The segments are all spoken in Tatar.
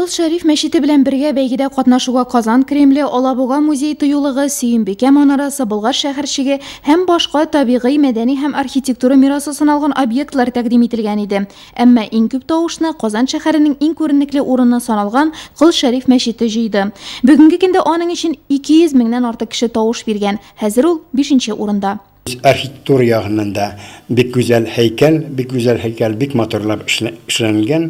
Кол Шәриф мәчете белән бергә бәйгедә катнашуга Казан Кремле, Алабуга музей тыюлыгы, Сөембикә манарасы, Болгар шәһәрчеге һәм башка табигый, мәдәни һәм архитектура мирасы саналган объектлар тәкъдим ителгән иде. Әмма иң күп тавышны Казан шәһәренең иң күренекле урыны саналган Кол Шәриф мәчете җыйды. Бүгенге көндә аның өчен 200 меңнән артык кеше тавыш биргән. Хәзер ул бишенче урында. Архитектура ягыннан да бик гүзәл һәйкәл, бик гүзәл һәйкәл, бик матурлап эшләнелгән.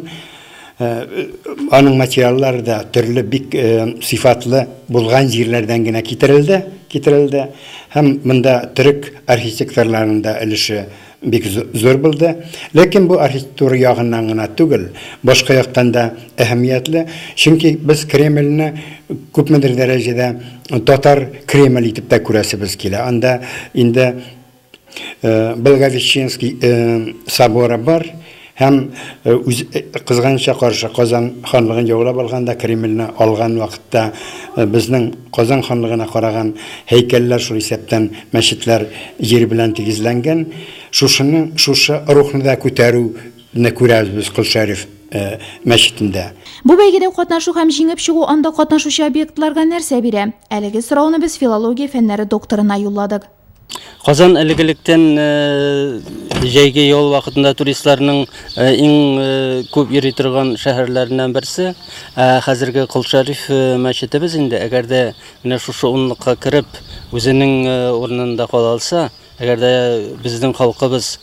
Аның материаллары да төрле бик сыйфатлы булган җирләрдән генә китерелде, китерелде. Һәм монда төрек архитекторларының да өлеше бик зур булды. Ләкин бу архитектура ягыннан гына түгел, башка яктан да әһәмиятле, чөнки без Кремльне күпмедер дәрәҗәдә Татар Кремль итеп тә күрәсебез килә. Анда инде Благовещенский соборы бар һәм үз кызганыча каршы Казан ханлыгын яулап алганда, Кремльне алган вакытта безнең Казан ханлыгына караган һәйкәлләр шул исәптән мәчетләр җир белән тигезләнгән. Шушының шушы рухны да күтәрү Не күрәбез без Кол Шәриф мәчетендә. Бу бәйгедә катнашу һәм җиңеп чыгу анда катнашучы объектларга нәрсә бирә? Әлеге сорауны без филология фәннәре докторына юлладык. Казан элек-электән э, җәйге ял вакытында туристларның э, иң э, күп йөри торган шәһәрләреннән берсе. Ә хәзерге Кол Шәриф мәчетебез инде, әгәр дә менә шушы унлыкка кереп, үзенең урынында кала алса, Әгәр дә безнең халкыбыз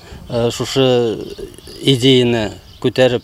шушы идеяне күтәреп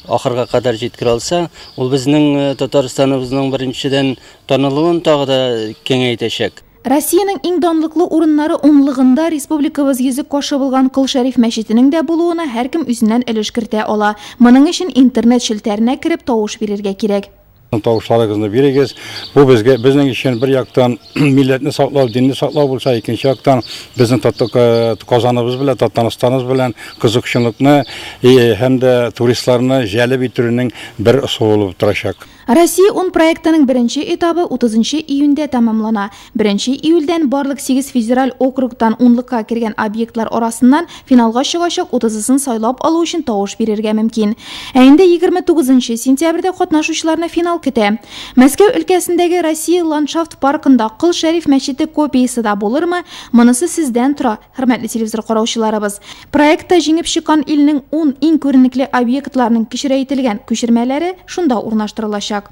ахырга кадәр җиткерә алса, ул безнең Татарстаныбызның беренчедән танылуын тагы да киңәйтәчәк. Россиянең иң данлыклы урыннары унлыгында республикабыз йөзек кашы булган Кол Шәриф мәчетенең дә булуына һәркем үзеннән өлеш кертә ала. Моның өчен интернет челтәренә кереп тавыш бирергә кирәк. Тавышларыгызны бирегез. Бу безгә безнең өчен бер яктан милләтне саклау, динне саклау булса, икенче яктан безнең э, Казаныбыз белән, Татарстаныбыз белән кызыкчынлыкны э, һәм дә туристларны җәлеп итүнең бер ысулы булып торачак. Россия 10 проектының беренче этабы 30 июньдә тәмамлана. Беренче июльдән барлык сигез федераль округтан унлыкка кергән объектлар арасыннан финалга чыгачак утызысын сайлап алу өчен тавыш бирергә мөмкин. Ә инде егерме тугызынчы сентябрьдә катнашучыларны финал көтә. Мәскәү өлкәсендәге Россия ландшафт паркында Кол Шәриф мәчете копиясе да булырмы, монысы сездән тора, хөрмәтле телевизор караучыларыбыз. Проектта җиңеп чыккан илнең ун иң күренекле объектларының кечерәйтелгән күчермәләре шунда урнаштырылачак.